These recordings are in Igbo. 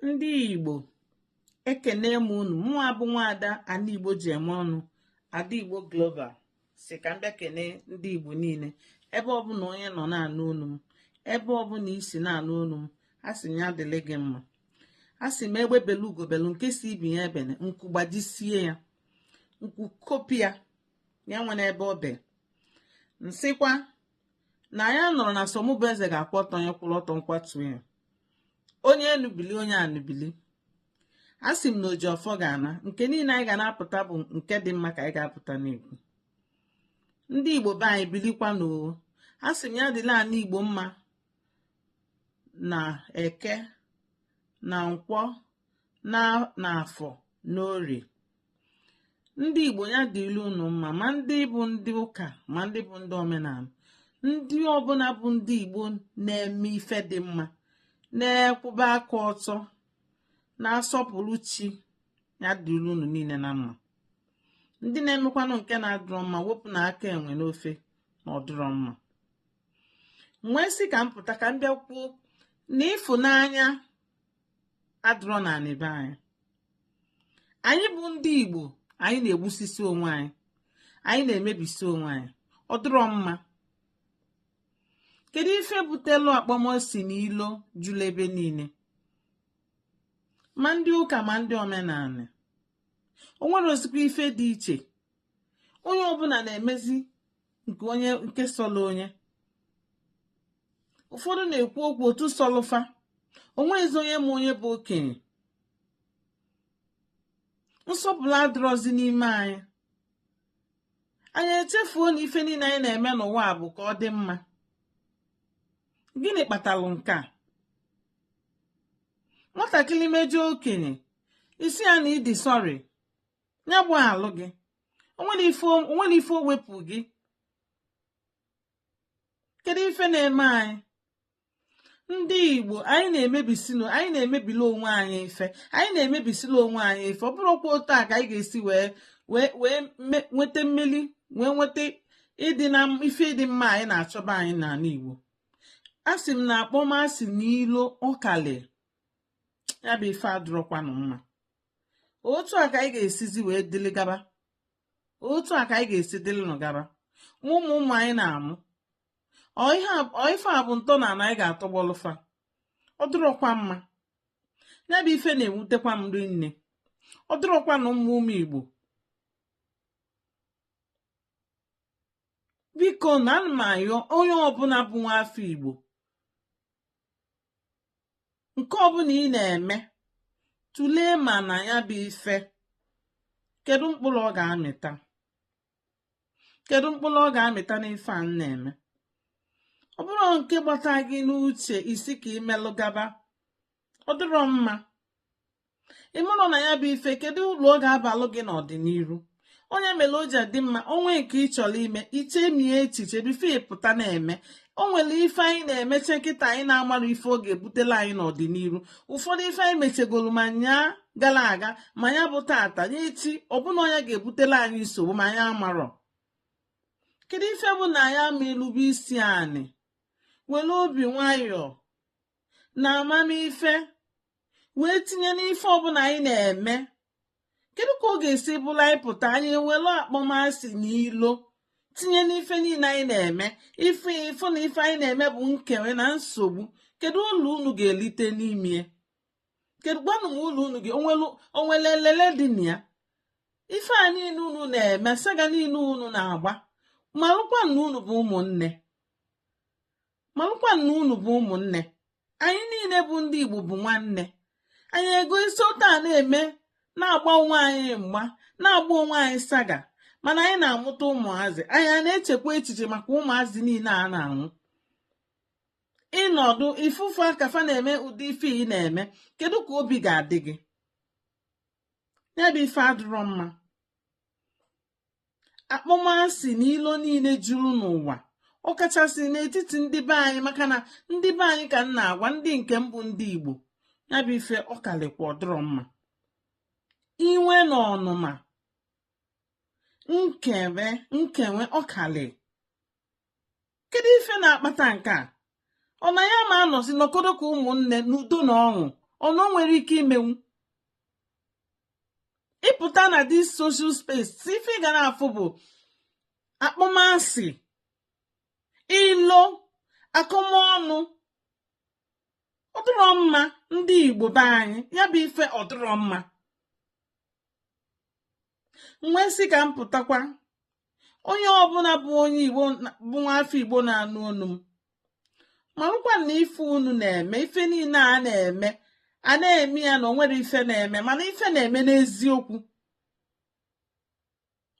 ndị igbo ekene m unu mụa bụ nwaada ana igbo ji eme ọnụ ada igbo global sị ka m bịa kene ndị igbo niile ebe ọbụna onye nọ na-anụ olu m ebe ọbụna i si na-anụ olu m a sị m ya dịlị gị mma a sị m egbe belu ugo belu nke sị ibe ya ebene nku gbajisie ya nku kopia ya enwene ebe o belu m sịkwa na onye nọrọ na sọ mụ bụ eze ga-akwụ ọtọ onye kwụrụ ọtọ m kwatu ya onye enu bili onye anị bili a sị m na oji ọfọ ga-ana nke niile anyị ga na-apụta bụ nke dị mma ka anyị ga-apụta na-ekwu ndị igbo be anyị bilikwanụ oo a sị m ya dịlị anị igbo mma na eke na nkwọ na afọ n'orie ndị igbo ya dịlị unu mma ma ndị bụ ndị ụka ma ndị bụ ndị omenanị ndị ọbụla bụ ndị igbo na-eme ife dị mma na-ekwụba aka ọtọ na-asọpụrụ chi ya dịlị unu niile na mma ndị na-emekwanụ nke na-adụrọ mma wepụnụ aka enwe n'ofe na ọ dụrọ mma m wee sị ka m pụta ka m bịa kwuo na ịfụnanya adụrọ na anị be anyị anyị bụ ndị igbo anyị na-egbusisi onwe anyị anyị na-emebisi onwe anyị ọ dụrọ mma kedu ife butelu akpọmasị na ilo julu ebe niile ma ndị ụka ma ndị omenanị o nwerọzikwa ife dị iche onye ọbụna na-emezi nke onye nke sọlụ onye ụfọdụ na-ekwu okwu otu sọlụ fa o nweghịzi onye ma onye bụ okenye nsọpụrụ adịrọzi n'ime anyị anyị echefuo na ife niile anyị na-eme n'ụwa a bụ ka ọ dị mma gịnị kpatalụ nke a nwatakịrị mejọ okenye ị sị ya na ị dị sorry ya gbaghalụ gị o nwere ife o wepụ gị kedu ife na-eme anyị ndị igbo anyị na-emebisinu anyị na-emebili onwe anyị ife anyị na-emebisili onwe anyị ife ọ bụrọkwa otu a ka anyị ga-esi wee wee nweta mmeli wee nweta ịdị na ife ịdị mma anyị na-achọ be anyị n'anị igbo a sị m na akpọmasị na ilo akalịa ya bụ ife adụrọkwanụ mma otu a ka anyị ga-esizi wee dịlị gaba otu a ka anyị ga-esi dịlịnụ gaba ma ụmụ ụmụ anyị na-amụ ọ ife a bụ ntọ ana anyị ga-atọgbọlụ fa ọ dịrọkwa mma ya bụ ife na-ewutekwa m rinne ọ dịrọkwanụ mma ụmụ igbo bikonụ ana m ayọ onye ọbụna bụ nwa afọ igbo nke ọbụna ị na-eme tụlee ma na ya bụ ife kedu mkpụrụ ọ ga-amịta kedu mkpụrụ ọ ga-amịta n'ife a na-eme ọ bụrụ nke gbata gị n'uche ị sị ka i melụ gaba ọ dịrọ mma ị mara na ya bụ ife kedu ulu ọ ga-abalụ gị n'ọdịniru ọ ya mere o ji adị mma o nwee nke ị chọrọ ime i chemie echiche before ị pụta na-eme o nwere ife anyị na-emecha kịta anyị na-amarọ ife ọ ga-ebutela anyị n'ọdịniru ụfọdụ ife anyị mechegoro ma nyaa gara aga ma ya bụ tata nye echi ọ bụ na ọ ya ga-ebutela anyị nsogbu ma anyị amarọ kedu ife bụ na anyị ama elube isi anị were obi nwayọọ na amamife wee tinye n'ife ọbụla anyị na-eme kedu ka ọ ga-esi bụrụ anyị pụta anyị ewere akpọmasị na ilo tinye n'ife niile anyị na-eme ife ị fụ na ife anyị na-eme bụ nkewe na nsogbu kedu ulu unu ga-elite n'ime kedu gwanụ m ulu unu ga o nwere elele dị na ya ife a niile unu na-eme saga niile unu na-agba malụkwa na unu bụ ụmụnne marakwa na unu bụ ụmụnne anyị niile bụ ndị Igbo bụ nwanne anyị ego isi ụta a na-eme na-agba onwe anyị mgba na-agba onwe anyị saga mana anyị na-amụta ụmụazị anyị a na-echekwa echiche maka ụmụazị niile a na-amụ ị nọdụ ị fụ fa ka fa na-eme ụdị ife ị na-eme kedu ka obi ga-adị gị ya bụ ife adịrọ mma akpọmasị na ilo niile juru n'ụwa ọ kachasị n'etiti ndị be anyị maka na ndị be anyị ka m na-agwa ndị nke m bụ ndị Igbo ya bụ ife ọ kalịkwa ọ dịrọ mma iwe na ọnụma nkewe nkewe ọ kalị kedu ife na-akpata nke a ọ na anyị ama anọzi nọkọdọ ka ụmụnne n'udo na ọṅụ unu nwere ike imenwu ị pụta na this social space sọ ife ị ga na-afụ bụ akpọmasị ilo akọmọnụ ọ dịrọ mma ndị igbo be anyị ya bụ ife ọ dịrọ mma m wee sị ka m pụtakwa onye ọbụla bụ onye igbo bụ nwaafọ igbo na-anụ olu m malụkwa na ife unu na-eme ife niile a na-eme a na-eme ya na o nwere ife na-eme mana ife na-eme n'eziokwu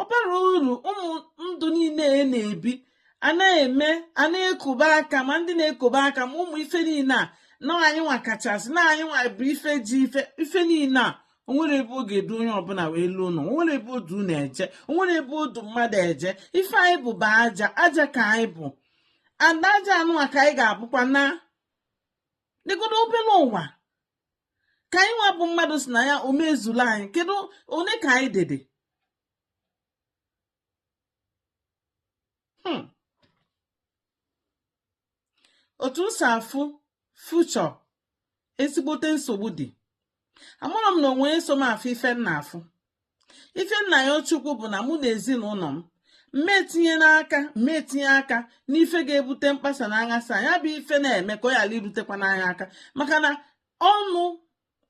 ọ bara uru ụmụ ndụ niile a na-ebi a na-eme a na-ekobe aka ma ndị na-ekobe aka ma ụmụ ife niile a na anyị nwa kachasị na anyị nwa bụ ife ji ife ife niile a o nwere ebe ọ ga-edu onye ọbụla wee luo ụlọ o nwere ebe ọ du unu eje o nwere ebe ọ du mmadụ eje ife anyị bụ bụ aja aja ka anyị bụ and aja anụwa ka anyị ga-abụkwa na dịgodo obere ụwa ka anyị nwa bụ mmadụ si na ya omezula anyị kedu one ka anyị dede hmm. otu m si afụ future ezigbote nsogbu dị amarọ m na onwe eso m afụ ife m na-afụ ife m na-ayọ Chukwu bụ na mụ na ezinụlọ m m ma etinye n'aka m ma etinye aka n'ife ga-ebute mkpasa na aghasa ya bụ ife na-eme ka ọ ghara irutekwana anyị aka maka na ọnụ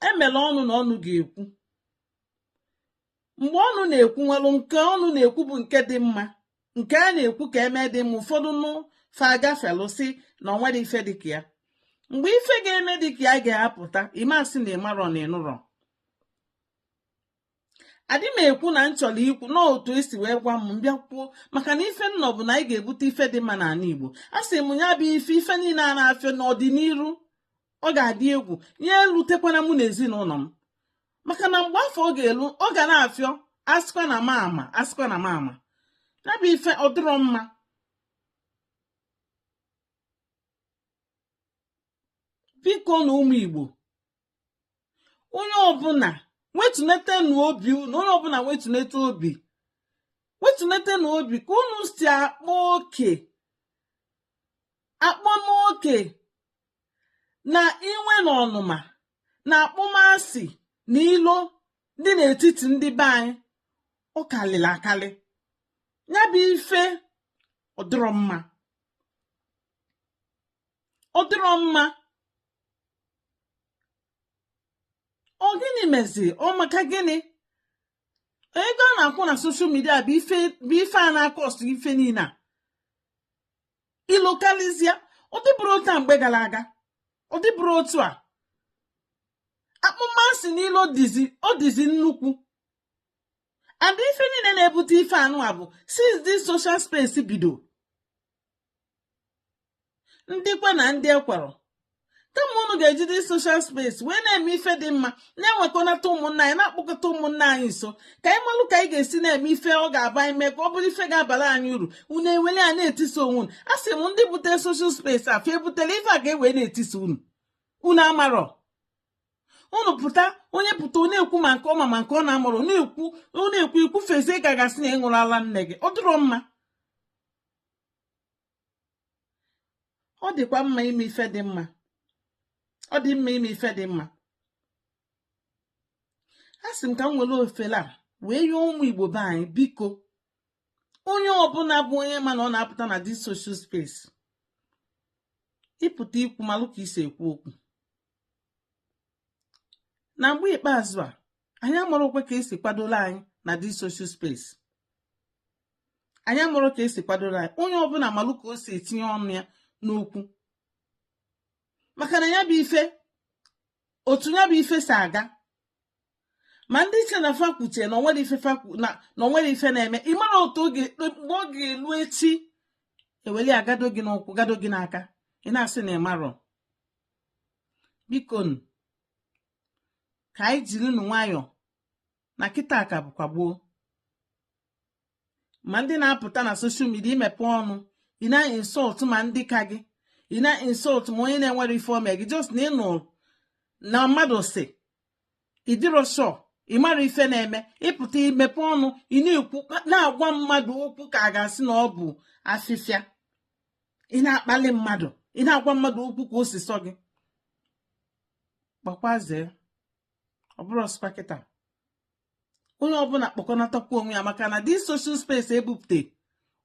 emela ọnụ na ọnụ ga-ekwu mgbe ọnụ na-ekwu nwelụ nke ọnụ na-ekwu bụ nke dị mma nke a na-ekwu ka eme dị mma ụfọdụ nụ fa agafelụ sị na ọ nwere ife dịka ya mgbe ife ga-eme dịka ya ga-apụta ị ma asị na ị marọ na ị nụrọ adị m ekwu na m chọrọ ikwu na otu e si wee gwa m bịa kwuo maka na ife nnọ bụ na anyị ga-ebute ife dị mma n'ala Igbo a sị m ya bụ ife ife niile a na-afịọ n'ọdịnihu ọ ga-adị egwu ya elutekwana mụ na ezinụlọ m maka na mgbe afụ ọ ga-elu ọ ga na-afịọ asịkwa na m ama asịkwa na m ama ya bụ ife ọ dịrọ mma bikonụ ụmụ Igbo onye ọbụla wetunetenụ obi unu onye ọbụla wetunete obi wetunetenụ obi ka unu si akpa oke akpamoke na iwe na ọnụma na akpọmasị na ilo dị n'etiti ndị be anyị ọ kalịrị akalị ya bụ ife ọ dịrọ mma ọ dịrọ mma ọ gịnị mezi ọ maka gịnị ego a na-akwụ na social media bụ ife a na-acause ife niile a ilo kalịzia ọ dịbụrọ otu a mgbe gara aga ọ dịbụrọ otu a akpọmasị niile ọ dịzi ọ dịzi nnukwu and ife niile na-ebute ife anụwa bụ since this social space bido ndị kwe na ndị ekwerọ kama unu ga-eji dis social space wee na-eme ife dị mma na-ewekọnata ụmụnna anyị na-akpọkọta ụmụnna anyị nso ka anyị malụ ka anyị ga-esi na-eme ife ọ ga-aba anyị mee ka ọ bụrụ ife ga-abara anyị uru unu ewele ya na-etisa onwe unu a sị m ndị bute social space a fa ebutela ife a ga-ewee na-etisa unu unu amarọ unu pụta onye pụta ọ na-ekwu ma nke ọ ma ma nke ọ na-amarọ na-ekwu ọ na-ekwu i kwufezie ka a ga-asị na ị ṅụrọ ala nne gị ọ dịrọ mma ọ dịkwa mma ime ife dị mma ọ dị mma ime ife dị mma a sị m ka m were ofele a wee yọọ ụmụ igbo be anyị biko onye ọbụla bụ onye ma na ọ na-apụta na dis social space ị pụta ikwu malụ ka i si ekwu okwu na mgbe ikpeazụ a anyị amarọkwa ka e si kwadolu anyị na dis social space anyị amarọ ka e si kwadoro anyị onye ọbụla malụ ka o si etinye ọnụ ya n'okwu maka na ya bụ ife otu ya bụ ife si aga ma ndị che na fa kwuchaa na o nwerọ ife na o nwerọ ife na-eme ị marọ otu oge mgbe ọ ga-elu echi ewele ya gado gị n'ụkwụ gado gị n'aka ị na-asị na ị marọ biko ka anyị jiri nụ nwayọọ na kịta ka bụkwa gboo ma ndị na-apụta na social media i mepe ọnụ ị na-insult ma ndị ka gị ị na-insult ma onye na-enwerọ ife o me gị just na ị nụ na mmadụ sị ị dịrọ sure ị mara ife na-eme ị pụta i mepe ọnụ ị na-ekwu na-agwa mmadụ okwu ka a ga-asị na ọ bụ afịfịa ị na-akpali mmadụ ị na-agwa mmadụ okwu ka o si sọ gị gbakwazie ọ bụrụ ọsụkwa kịta onye ọbụla kpọkọnatakwu onwe ya maka na dis social space e bupụta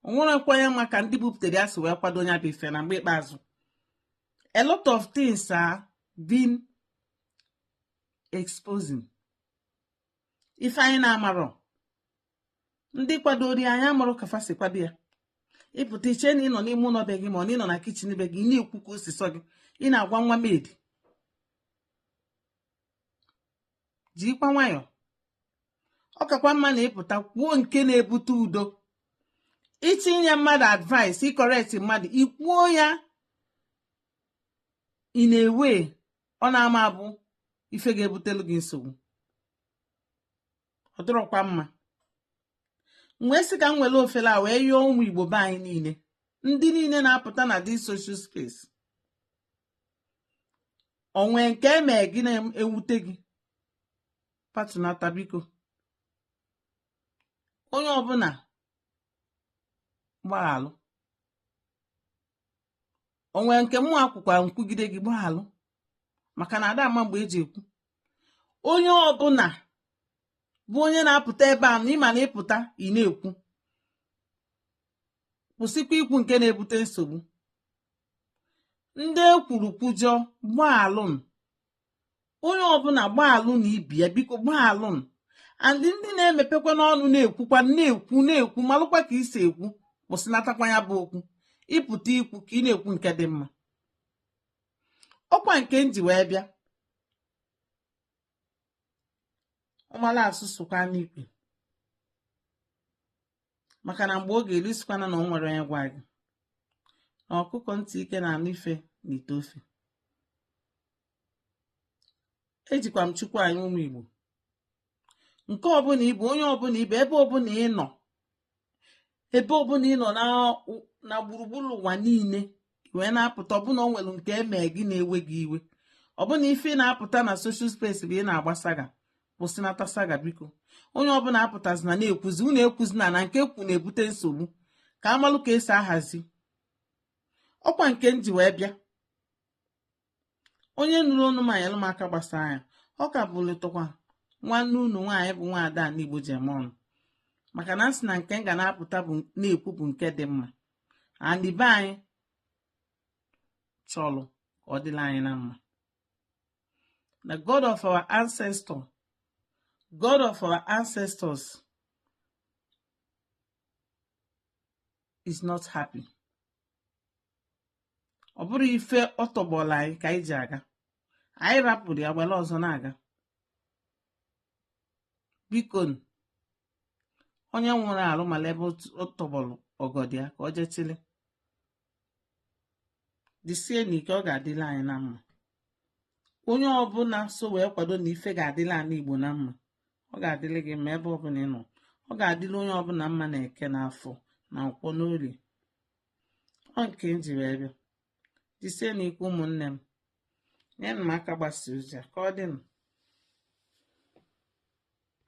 o nwerọkwa onye ma ka ndị bupụtara ya si wee kwado nya bụ ife na mgbe ikpeazụ a lot of things are being exposing ife anyị na-amarọ ndị kwadoro ya anyị amarọ ka fa si kwado ya ị pụta i che na ị nọ n'ime ụlọ be gị ma ọ na ị nọ na kitchen be gị ị na-ekwu ka o si sọ gị ị na-agwa nwa mmadụ jikwa nwayọọ ọ kakwa mma na ị pụta kwuo nke na-ebute udo ị chọ inye mmadụ advice ị correct mmadụ i kwuo ya in a way ọ na-ama abụ ife ga-ebutelu gị nsogbu ọ dịrọkwa mma wee sị ka m were ofele a wee yọọ ụmụ igbo be anyị niile ndị niile na-apụta na this social space o nwee nke e mee gị na-ewute gị patunata biko onye ọbụla gbaghalụ o nwee nke mụwa kwukwa nkwugide gị gbaghalụ maka na ada ama mgbe e ji ekwu onye ọbụla bụ onye na-apụta ebe a na ịma na ịpụta ị na-ekwu kwụsịkwa ikwu nke na-ebute nsogbu ndị e kwuru kwujọọ gbaalụnụ onye ọbụla gbaalụ na ibe ya biko gbaalụnụ ndị ndị na-emepekwa n'ọnụ na-ekwukwa na-ekwu na-ekwu malụkwa ka i si ekwu kwụsịnatakwa ya bụ okwu ịpụta ikwu ka ị na-ekwu nke dị mma ọkwa nke m ji wee bịa ọ mala asụ sụkwa n'ikwe maka na mgbe oge elu ị sịkwana na o nwerọ onye gwa gị na ọkụkọ ntị ike na-anụ ife na ite ofe ejikwa m chukwu ayọ ụmụ igbo nke ọbụla ị bụ onye ọbụla ị bụ ebe ọbụla ị nọ ebe ọbụla ị nọ na gburugburu ụwa niile wee na-apụta ọ bụ na o nwere nke e mee gị na-ewe gị iwe ọ bụ na ife ị na-apụta na social space bụ ị na-agba saga kwụsịnata saga biko onye ọbụla apụtazina na-ekwuzi unu ekwuzina na nke okwu na-ebute nsogbu ka a malụ ka e si ahazi ọkwa nke m ji wee bịa onye nụrụ onu m nyelụ m aka gbasaa ya ọ ka bụlịtụkwa nwanne unu nwaanyị bụ nwaada anị igbo ji eme ọnụ maka na m sị na nke m ga na-apụta bụ na-ekwu bụ nke dị mma anị be anyị chọrọ ka ọ dịla anyị na mma the god of our ancestor god of our ancestors is not happy ọ bụrọ ife ọ tọgbọla anyị ka anyị ji aga anyị rapụrụ ya were ọzọ na-aga biko onye wụrụ arụ mala ebe ọ tọgbọrọ ọgọdọ ya ka ọ jee chịlị jisie na ike ọ ga-adịla anyị na mma onye ọbụla so wee kwado na ife ga-adịla anị igbo na mma ọ ga-adịlị gị mma ebe ọbụla ị nọ ọ ga-adịla onye ọbụla mma na eke na afọ na nkwọ n'orie ọ nke m ji wee bịa jisie na ike ụmụnne m nyenụ m aka gbasaa ozi a ka ọ dịnụ